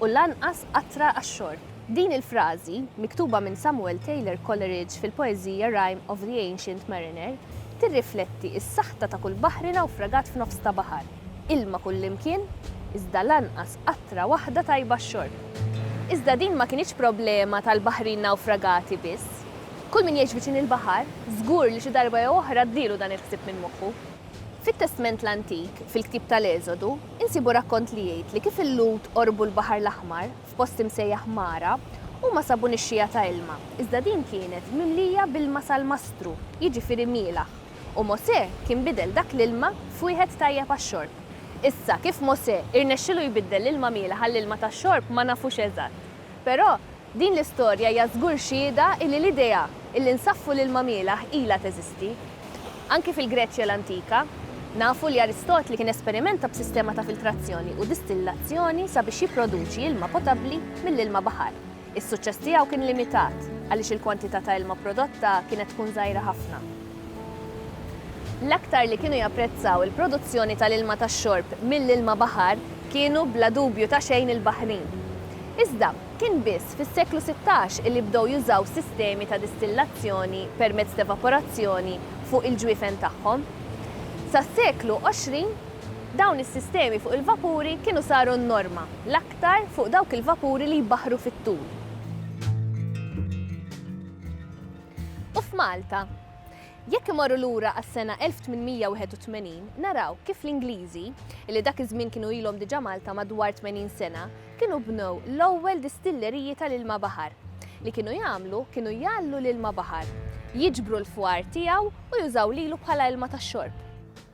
u lanqas qatra għax-xorb. Din il-frażi, miktuba minn Samuel Taylor Coleridge fil-poeżija Rime of the Ancient Mariner, tirrifletti s-saħta ta' kull baħri nawfragat f'nofs ta' baħar, ilma kullimkien, iżda lanqas qatra waħda tajba għax-xorb. Iżda din ma kinitx problema tal-baħrin nawfragati biss. Kull min jgħix viċin il-baħar, żgur li xi darba jew oħra għaddielu dan il-ħsieb minn moħħu. Fit-Testment l-Antik, fil-ktieb tal-Eżodu, Insibu rakkont li jgħid li kif il-Lhud qorbu l-Baħar l-Aħmar, f'post imsejjaħ Mara, huma sabu nixxiegħa ta' ilma, iżda din kienet mimlija b'ilma salmastru, jiġifieri mielaħ, u Mosè kien bidel dak l-ilma f'wieħed tajjeb għax-xorb. Issa, kif Mosè irnexxielu jbiddel l-ilma mielaħ għall-ilma tax-xorb ma nafux eżatt. Però, din l-istorja hija żgur xhieda illi l-idea illi nsaffu l-ilma mielgħ ilha teżisti. Anki fil-Greċja l-antika, nafu li Aristotli kien esperimenta b'sistema ta' filtrazzjoni u distillazzjoni sabiex jipproduċi ilma potabbli mill-ilma baħar. Is-suċċess tiegħu kien limitat, għaliex il-kwantità ta' ilma prodotta kienet tkun żgħira ħafna. L-aktar li kienu japprezzaw il-produzzjoni tal-ilma tax-xorb mill-ilma baħar kienu bla dubju ta' xejn il-Baħrin. Iżda, kien biss fis-seklu sittax illi bdew jużaw sistemi ta' distillazzjoni permezz t'evaporazzjoni fuq il-ġwiefen tagħhom. Sas-seklu għoxrin, dawn is-sistemi fuq il-vapuri kienu saru n-norma, l-aktar fuq dawk il-vapuri li jbaħħru fit-tul. U f'Malta? Jekk imorru lura għas-sena 1881, naraw kif l-Ingliżi, li dak iż-żmien kienu ilhom diġà Malta madwar tmenin sena, kienu bnew l-ewwel distilleriji tal-ilma baħar. Li kienu jagħmlu kienu jgħalllu l-ilma baħar, jiġbru l-fwar tiegħu u jużaw lilu bħala ilma tax-xorb.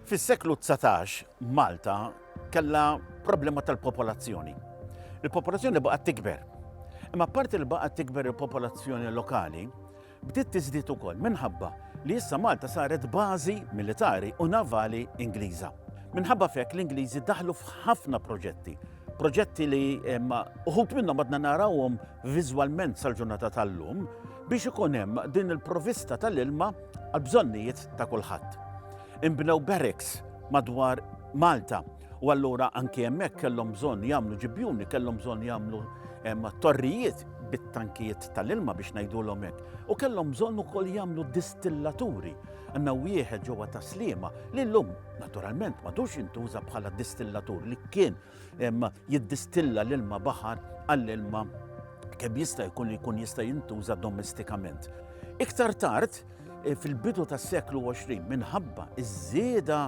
Fis-seklu dsatax, Malta kellha problema tal-popolazzjoni. Il-popolazzjoni baqgħet tikber. Imma apparti li baqgħet tikber il-popolazzjoni lokali, bdiet tiżdied ukoll minħabba li issa Malta saret bażi militari u navali Ingliża. Minħabba fek l-Ingliżi daħlu f'ħafna proġetti. Proġetti li uħut minnhom għadna narawhom viżwalment sal-ġurnata tal-lum biex ikun hemm din il-provista tal-ilma għall-bżonnijiet ta' kulħadd. Inbnew barracks madwar Malta u allura anki hemmhekk kellhom bżonn jagħmlu ġibjuni, kellhom bżonn jagħmlu torrijiet bit-tankijiet tal-ilma biex ngħidulhom hekk. U kellhom bżonn ukoll jagħmlu distillaturi. Għandna wieħed ġewwa ta' Sliema li llum naturalment madux jintuża bħala distillatur li kien jiddistilla l-ilma baħar għall-ilma kemm jista' jkun li jkun jista' jintuża domestikament. Iktar tard, eh, fil-bidu tas-seklu 20, minħabba iż-żieda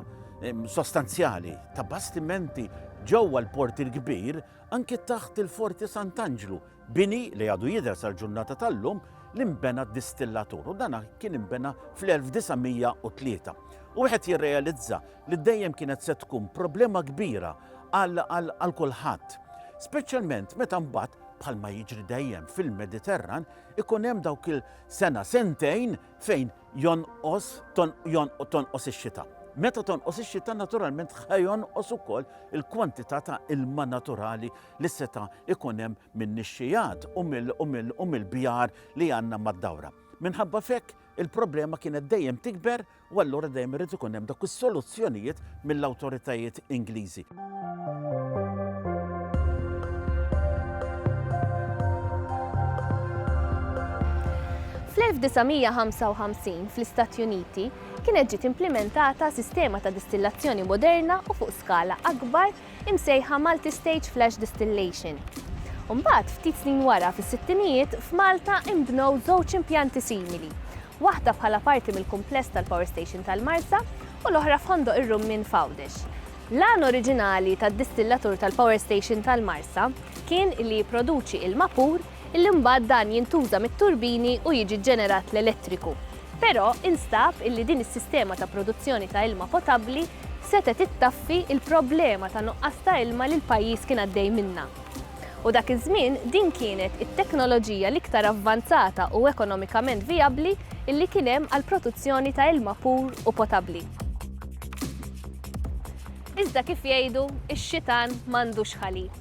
sostanzjali ta' bastimenti ġewwa l-Port il-Kbir, anki taħt il-Forti Sant'Anġlu, bini li għadu jidher sal-ġurnata tal-lum li nbena distillatur u dana kien imbena fl-1903. U wieħed jirrealizza li dejjem kienet se tkun problema kbira għal kulħadd. Speċjalment meta mbagħad bħalma jiġri dejjem fil-Mediterran ikun hemm dawk il-sena sentejn fejn jonqos tonqos ix-xita. Meta tonqos ix-xita naturalment ħajonqos ukoll il-kwantità ta' ilma naturali li seta' ikun hemm min-nixxijat u mill-bjar li għandna mad-dawra. Minħabba fekk il-problema kienet dejjem tikber u allura dejjem irid ikun hemm dawk is-soluzzjonijiet mill-awtoritajiet Ingliżi. Fl-1955, fl-Istati Uniti, kienet ġiet implimentata sistema ta' distillazzjoni moderna u fuq skala akbar imsejħa Multi Stage Flash Distillation. U mbagħad, ftit snin wara, fis-sittinijiet, f'Malta inbnew żewġ impjanti simili, waħda bħala parti mill-kumpless tal-Power Station tal-Marsa u l-oħra f'Ħondoq ir-Rummien f'Għawdex. L-għan oriġinali tad-distillatur tal-Power Station tal-Marsa kien li jipproduċi ilma pur illi mbagħad dan jintuża mit-turbini u jiġi ġġenerat l-elettriku. Però instab illi din is-sistema ta' produzzjoni ta' ilma potabbli setgħet ittaffi l-problema ta' nuqqas ta' ilma li l-pajjiż kien għaddej minnha. U dak iż-żmien din kienet it-teknoloġija l-iktar avvanzata u ekonomikament vijabbli illi kien hemm għall-protuzzjoni ta' ilma pur u potabbli. Iżda kif jgħidu, ix-xitan m'għandux ħalib.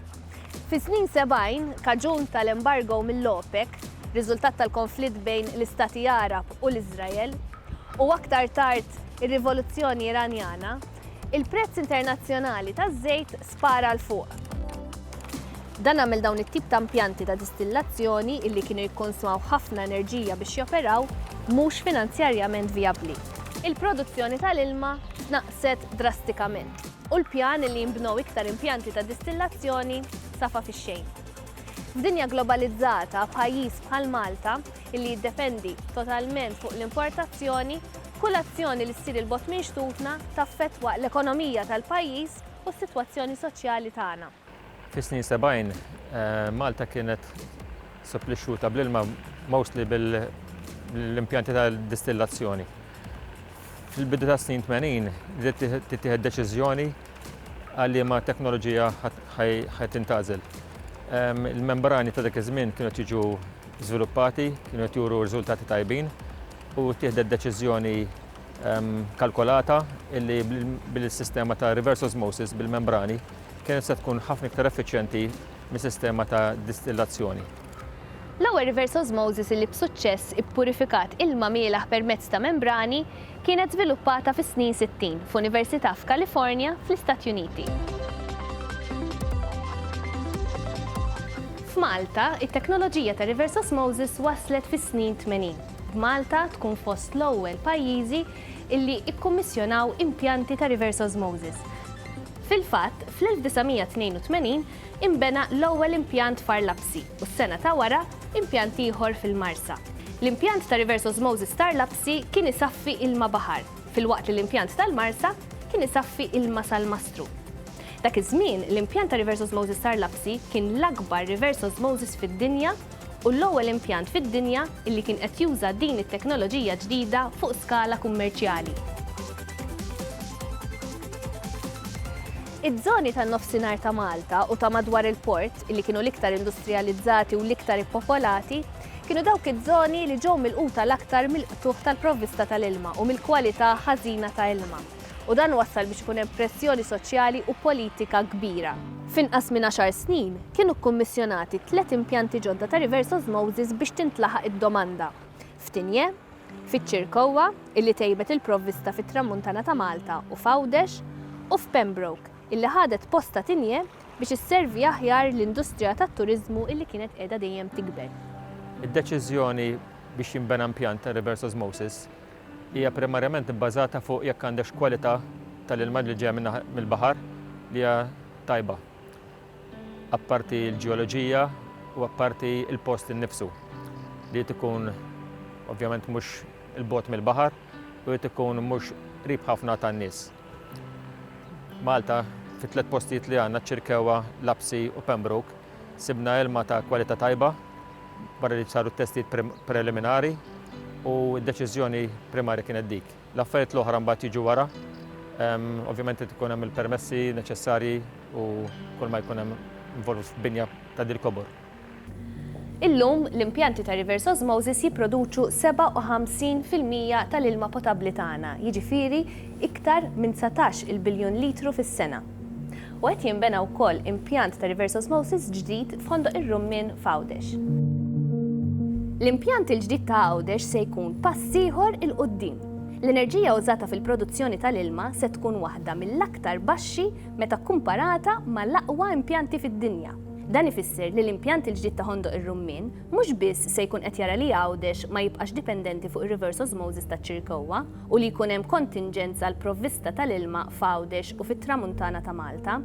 Fis-snin 70, kaġun tal-embargo mill-OPEC, riżultat tal-konflitt bejn l-Istati Għarab u l-Iżrael, u aktar tard ir-Rivoluzzjoni Iranjana, il-prezz internazzjonali taż-żejt spara 'l fuq. Dan għamel dawn it-tip ta' impjanti ta' distillazzjoni, li kienu jikkonsmaw ħafna enerġija biex joperaw, mhux finanzjarjament vijabbli. Il-produzzjoni tal-ilma tnaqqset drastikament. u l-pjan li jinbnew iktar impjanti ta' distillazzjoni safa fix-xejn. F'dinja globalizzata, pajjiż bħal Malta, li jiddependi totalment fuq l-importazzjoni, kull azzjoni li ssir 'il bogħod minn xtutna taffettwa l-ekonomija tal-pajjiż u s-sitwazzjoni soċjali tagħna. Fis-snin sebgħin, Malta kienet supplixxuta bl-ilma mostly mill-impjanti ta' distillazzjoni. Fil-bidu tas-snin tmenin bdiet tittieħed deċiżjoni għal liema teknoloġija ħa tintgħażel. Il-membrani ta' dak iż-żmien kienu qed jiġu żviluppati, kienu qed juru riżultati tajbin u ttieħdet deċiżjoni kalkolata li bil-sistema ta' reverse osmosis bil-membrani, Kienet se tkun ħafna iktar effiċjenti mis-sistema ta' distillazzjoni. L-ewwel reverse osmosis li b'suċċess ippurifikat ilma mielaħ permezz ta' membrani kienet żviluppata fis-snin sittin f'università f'Kalifornja, fl-Istati Uniti. F'Malta, it-teknoloġija ta' reverse osmosis waslet fis-snin tmenin, b'Malta tkun fost l-ewwel pajjiżi li kkummissjonaw impjanti ta' reverse osmosis. Fil-fatt, fl-1982 inbena l-ewwel impjant f'Għar Lapsi u s-sena ta' wara, impjant ieħor fil-Marsa. L-impjant ta' Reverse Osmosis t'Għar Lapsi kien isaffi ilma baħar, filwaqt li l-impjant tal-Marsa kien isaffi ilma salmastru. Dak iż-żmien, l-impjant ta' Reverse Osmosis t'Għar Lapsi kien l-akbar reverse osmosis fid-dinja u l-ewwel impjant fid-dinja li kien qed juża din it-teknoloġija ġdida fuq skala kummerċjali. Iż-żoni tan-Nofsinhar ta' Malta u ta' madwar il-port, li kienu l-iktar industrijalizzati u l-iktar ippopolati, kienu dawk iż-żoni li ġew milquta l-aktar mill-qtugħ tal-provvista tal-ilma u mill-kwalità ħażina ta' ilma. u dan wassal biex ikun hemm pressjoni soċjali u politika kbira. F'inqas minn għaxar snin, kienu kkummissjonati tliet impjanti ġodda ta' reverse osmosis biex tintlaħaq id-domanda, f'Tigne, fiċ-Ċirkowwa, illi tejbet il-provvista fit-Tramuntana ta' Malta u f'Għawdex, u f'Pembroke, illi ħadet post ta' Tigne biex isservi aħjar l-industrija tat-turiżmu illi kienet qiegħda dejjem tikber. Id-deċiżjoni biex jinbena impjant ta' reverse osmosis Hija primarjament ibbażata fuq jekk għandekx kwalità tal-ilma li ġejja mill-baħar li hija tajba, apparti l-ġeoloġija u apparti l-post innifsu li jrid ikun ovvjament mhux 'il bogħod mill-baħar u jrid ikun mhux qrib ħafna tan-nies. Malta, fit-tliet postijiet li għandna, Ċirkewwa, Lapsi u Pembroke, sibna ilma ta' kwalità tajba barra li saru t-testijiet preliminari u d-deċiżjoni primarja kienet dik. L-affarijiet l-oħra mbagħad jiġu wara. Ovvjament qed ikun hemm il-permessi neċessarji u kull ma jkun hemm involut f'binja ta' dil-kobor. Illum, l-impjanti ta' reverse osmosis jipproduċu 57 fil-mija tal-ilma potabbli tagħna, jiġifieri iktar minn dsatax-il biljun litru fis-sena. U qed jinbena wkoll impjant ta' reverse osmosis ġdid f'Ħondoq ir-Rummien f'Għawdex. L-impjant il-ġdid ta' Għawdex se jkun pass ieħor 'il quddiem. L-enerġija użata fil-produzzjoni tal-ilma se tkun waħda mill-aktar baxxi meta kkumparata mal-aqwa impjanti fid-dinja. Dan ifisser li l-impjant il-ġdid ta' Ħondoq ir-Rummien mhux biss se jkun qed jara li Għawdex ma jibqax dipendenti fuq ir-reverse osmosis taċ-Ċirkewwa, u li jkun hemm kontinġenz għall-provvista tal-ilma f'Għawdex u fit-Tramuntana ta' Malta,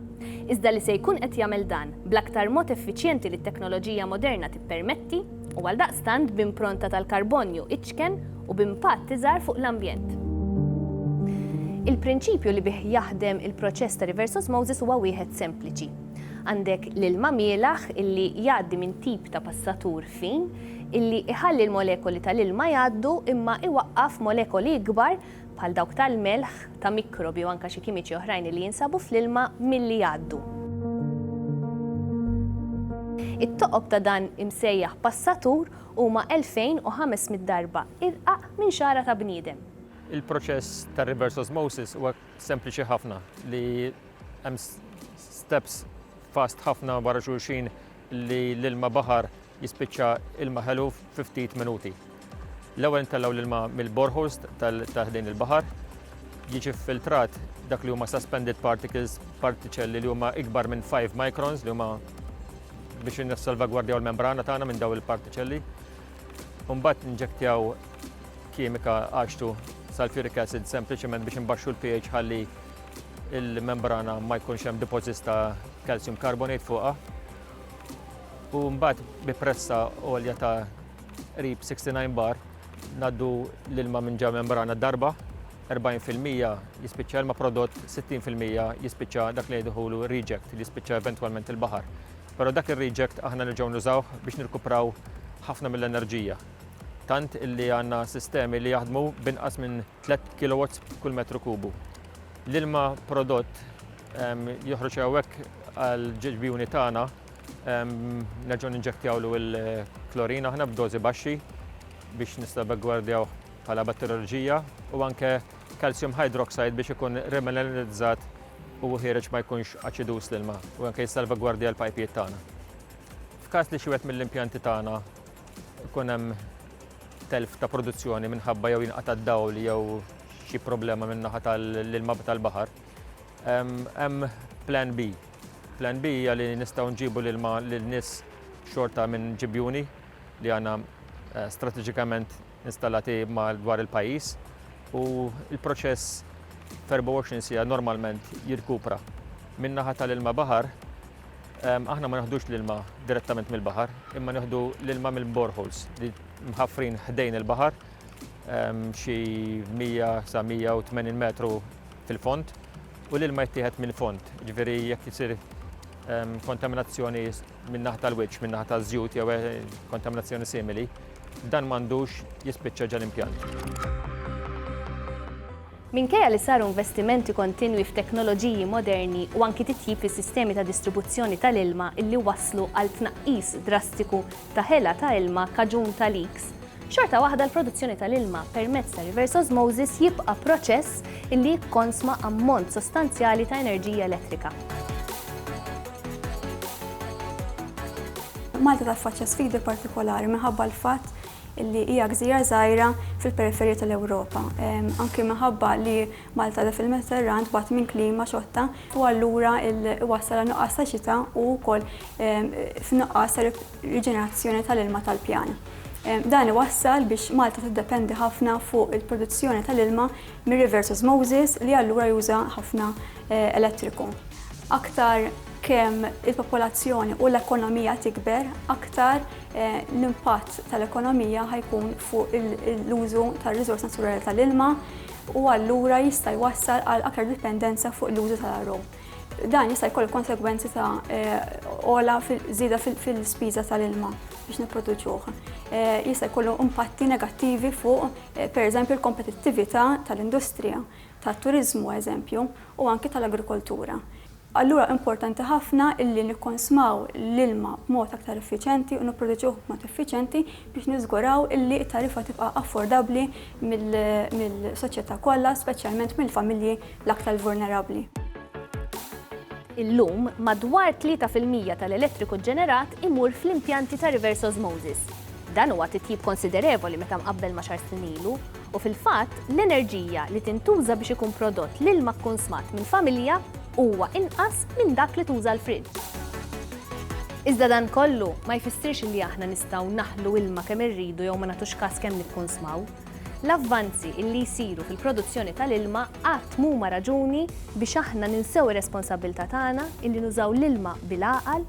iżda li se jkun qed jagħmel dan bl-aktar mod effiċjenti li t-teknoloġija moderna tippermetti u għaldaqstant b'impronta tal-karbonju iċken u b'impatt iżgħar fuq l-ambjent. Il-prinċipju li bih jaħdem il-proċess ta' reverse osmosis huwa wieħed sempliċi. Għandek l-ilma mielaħ illi jgħaddi minn tip ta' passatur fin, illi jħalli l-molekoli tal-ilma jgħaddu imma iwaqqaf molekoli ikbar, bħal dawk tal-melħ, ta' mikrobi u anke xi kimiċi oħrajn illi jinsabu fl-ilma, milli jgħaddu. It-toqob ta' dan imsejjaħ passatur huma 2,500 darba irqaq minn xagħra ta' bniedem. Il-proċess ta' reverse osmosis huwa sempliċi ħafna li hemm steps fast ħafna wara xulxin li l-ilma baħar Jispiċċa ilma ħelu fi ftit minuti. L-ewwel intellgħu l-ilma mill-boreholes ta' ħdejn il-baħar, jiġi filtrat dak li huma suspended particles, partiċelli li huma ikbar minn 5 microns li huma biex nissalvagwardjaw l-membrana tagħna minn daw il-partiċelli. Mbagħad nġektjaw kimika għaxtu sulfuric acid sempliċement biex imbaxxu l-pH ħalli il-membrana ma jkunx hemm deposits ta' calcium carbonate fuqha. U mbagħad bi pressa għolja ta' qrib 69 bar naddu l-ilma minn ġa membrana darba 40% jispiċċa ilma prodott, 60% jispiċċa dak li jidħulu reject li jispiċċa eventwalment il-baħar. Però dak ir-reject aħna nerġgħu nużawh biex nirkupraw ħafna mill-enerġija. Tant illi għandna sistemi li jaħdmu binqas minn 3 kW kull metru kubu. L-ilma prodott Joħroġ hawnhekk għal ġeġbijuni tagħna nerġgħu ninġektjawlu l-klorin aħna b'dożi baxxi biex nistabegwardjaw bħala batterioloġija u anke calcium hydroxide biex ikun remineralizzat u ħiereġ ma jkunx aċidus l-ilma u anke jissalvagwardja l-pajpijiet tagħna. F'każ li xi mill-impjanti tagħna ikun hemm telf ta' produzzjoni minħabba jew jinqata' d-dawl jew xi problema min-naħa tal-ilma tal-baħar, Hemm plan B. Plan B hija li nistgħu nġibu l-ilma lin-nies xorta minn ġibjuni li għandna eh, strateġikament installati dwar il-pajjiż u l-proċess f'24 sija normalment jirkupra. Min-naħa tal-ilma baħar, aħna ma naħdux l-ilma direttament mill-baħar, imma naħdu l-ilma mill-boreholes li mħaffrin ħdejn il-baħar xi 100 sa 180 metru fil-fond u l-ilma jittieħed mill-fond. Ġifieri jekk isir ehm, kontaminazzjoni min-naħa tal-wiċċ, min-naħa taż-żjut jew eh, kontaminazzjoni simili, dan m'għandux jispiċċa ġal-impjant. Minkejja li saru investimenti kontinwi f'teknoloġiji moderni u anki titjib fis-sistemi ta' distribuzzjoni tal-ilma illi waslu għal tnaqqis drastiku ta' ħela ta' ilma kaġun ta' leaks, xorta waħda l-produzzjoni tal-ilma permezz ta' reverse osmosis jibqa' proċess li jikkonsma ammont sostanzjali ta' enerġija elettrika. Malta taffaċċja sfidi partikolari minħabba l-fatt li hija gżira żgħira fil-periferija tal-Ewropa. Anki minħabba li Malta da fil-Mediterran tbati minn klima xotta u allura iwassal għal nuqqas ta' xita u wkoll f'nuqqas ta' riġenerazzjoni tal-ilma tal-pjan. Dan iwassal biex Malta tiddependi ħafna fuq il-produzzjoni tal-ilma mir-rivers osmosis li allura juża ħafna elettriku. Aktar kemm il-popolazzjoni u l-ekonomija tikber, aktar l-impatt tal-ekonomija ħa jkun fuq l-użu tar-riżors naturali tal-ilma, u allura jista' jwassal għal aktar dipendenza fuq l-użu tal-RO. Dan jista' jkollu konsegwenzi ta' ola żieda fil-spiża tal-ilma biex nipproduċuh. Jista' jkollu impatti negattivi fuq, pereżempju, l-kompetittività tal-industrija, tat-turiżmu, eżempju, u anki tal-agrikoltura. Allura importanti ħafna illi nikkonsmaw l-ilma b'mod aktar effiċjenti u nipproduċuh b'mod effiċjenti biex niżguraw illi t-tariffa tibqa' affordabbli mill-soċjetà kollha, speċjalment mill-familji l-aktar vulnerabbli. Illum, madwar tlieta fil-mija tal-elettriku ġġenerat imur fl-impjanti ta' reverse osmosis. Dan huwa titjib konsiderevoli meta mqabbel ma' xahar snin ilu, U fil-fatt, l-enerġija li tintuża biex ikun prodott l-ilma kkunsmat minn familja huwa inqas minn dak li tuża l-friġġ. Iżda dan kollu ma jfissirx li aħna nistgħu naħlu ilma kemm irridu jew ma nagħtux kas kemm nikkunsmaw. L-avvanzi li jsiru fil-produzzjoni tal-ilma qatt m'huma raġuni biex aħna ninsew ir-responsabbiltà tagħna li nużaw l-ilma bil-għaqal